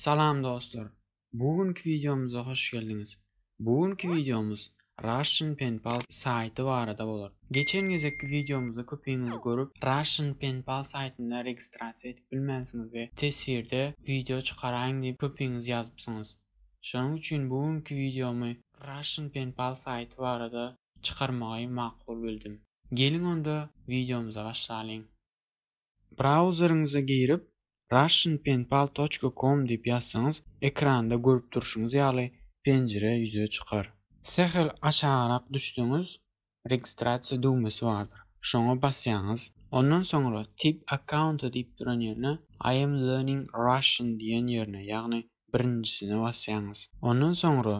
Salam dostlar! Bu günki wideomyza hoş geldiňiz! Bu günki wideomyz Russian Pen Pal saýty barada bolar. Geçen gezekki wideomyzda köpiňiz görüp, Russian Pen Pal saýtynda registrasiýa edip bilmänsiňiz we teswirde wideo çykaraýyň diýip köpiňiz ýazypsyňyz. Şonuň üçin bu günki wideomy Russian Pen Pal saýty barada çykarmagy makul bildim. Geliň onda wideomyza başlalyň! Brauzeriňize girip, russianpenpal.com diýip ýazsaňyz, ekranda görüp durşuňyz ýaly penjire ýüze çykar. Sähel aşagrak düşseňiz, registrasiýa düwmesi bardyr. Şoňa basýaňyz. Ondan soňra Tip accounta diýip duran ýerine I am learning Russian diýen ýerine, ýagny birinjisine basýaňyz. Ondan soňra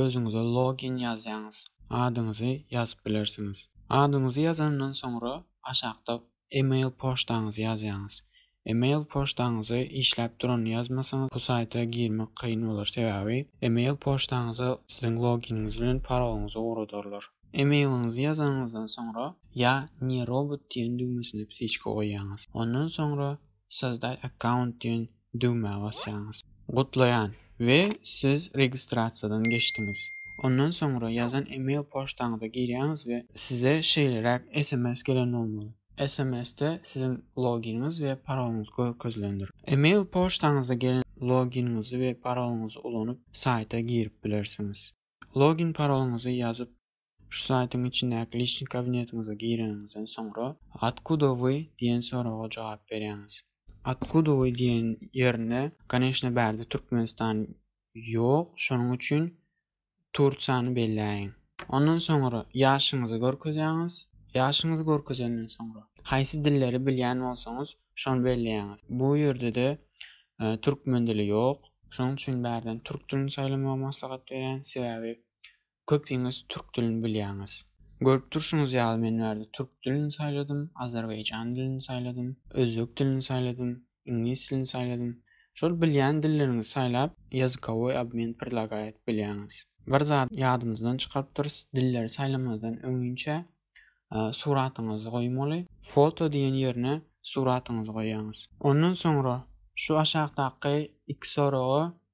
özüňize login ýazýaňyz, adyňyzy ýazyp bilersiňiz. Adyňyzy ýazandan soňra aşakda email poçtaňyzy ýazýaňyz. Email poçtaňyzy işläp duranyny ýazmasaňyz bu saýta girmek kyn bolar, sebäbi email poçtaňyza siziň loginiňiz bilen parolyňyzy ugradarlar. Emailiňizi ýazanyňyzdan soňra ýa ne robot diýen düwmesine psiçka goýýaňyz. Ondan soňra Sozdaý akkaunt diýen düwmä basýaňyz. Gutlaýan we siz registrasiýadan geçdiňiz. Ondan soňra ýazan email poçtaňyza girýäňiz we. Size şeýleräk sms gelen bolmaly. Sms-de siziň loginiňiz we paroluňyz görkezilendir. Email poçtaňyza gelen loginiňizi we paroluňyzy ulanyp saýta girip bilersiňiz. Login paroluňyzy ýazyp Şu saýtyň içindäki Liçnik kabinetiňize gireniňizden soňra Otkuda wy diýen soraga jogap berýäňiz. Otkuda wy diýen ýerinde koneşne bärde Türkmenistan ýok şonuň üçin Tursiýany belläýiň. Ondan soňra ýaşyňyzy görkezýäňiz. Ýaşyňyzy görkezenden soňra haýsy dilleri bilýän bolsaňyz şony belleýäňiz. Bu ýerde-de Türkmen dili ýok şonuň üçin bärden Türk dilini saýlamagy maslahat berýän sebäbi Köpiňiz türk dilini bilýäňiz. Görüp durşuňyz ýaly men bärde türk dilini saýladym, azerbaýjan dilini saýladym, özbek dilini saýladym, iňlis dilini saýladym. Şol bilýän dilleriňizi saýlap ýazykowoý obmen predlagaýat bilýäňiz. Bir zady ýadymyzdan çykaryp durus, dilleri saýlamazdan öňinçä suratyňyzy goýmaly. Foto diýen ýerine suratyňyzy goýýaňyz. Ondan soňra şu aşakdaky iki soraga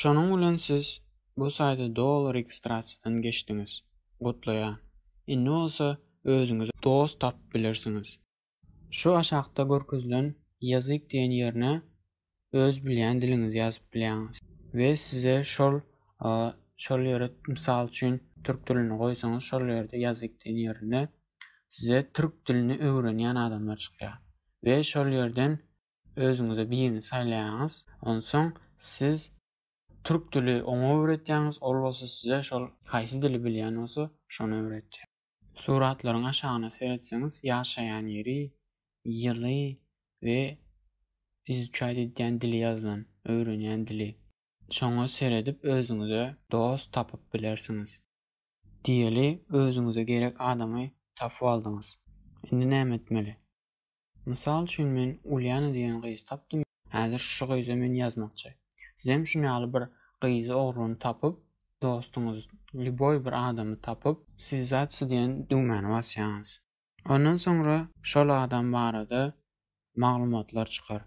Şonuň bilen siz bu saýda doly registrasiýadan geçdiňiz. Gutlaýan. Indi bolsa özüňize dost tapyp bilersiňiz. Şu aşakda görkezilen Ýazyk diýen ýerine öz bilýän diliňizi ýazyp bilýäňiz we size şol şol ýere mysal üçin türk dilini goýsaňyz şol ýerde Ýazyk diýen ýerinde size türk dilini öwrenýän adamlar çykýar we şol ýerden Özüňize birini saýlaýaňyz, onsoň siz türk dili oňa öwretýäňiz, ol bolsa size şol haýsy dili bilýän bolsa şony öwretýär. Suratlaryň aşagyna seretseňiz ýaşaýan ýeri, ýyly we izuçaýt edýän dili ýazylan, öwrenýän dili. Şoňa seredip özüňize dost tapyp bilersiňiz. Diýeli özüňize gerek adamy tapyp aldyňyz. Indi näme etmeli? Mysal üçin men Uliana diýen gyz tapdym. Häzir şu gyza men ýazmakçy. Sizem şuny ýaly bir gyzy ogryny tapyp, dostuňyz lýuboý bir adamy tapyp, Swizatsi diýen düwmäni basýaňyz. Ondan soňra şol adam barada maglumatlar çykar.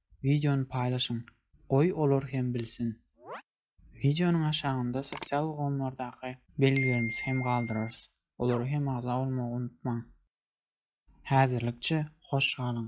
wideony paýlaşyň, goý olar hem bilsin. Wideonyň aşagynda sosial ulgamlardaky belgilerimizi hem galdyrarys, olara hem agza bolmagy unutmaň. Häzirlikçe hoş galyň!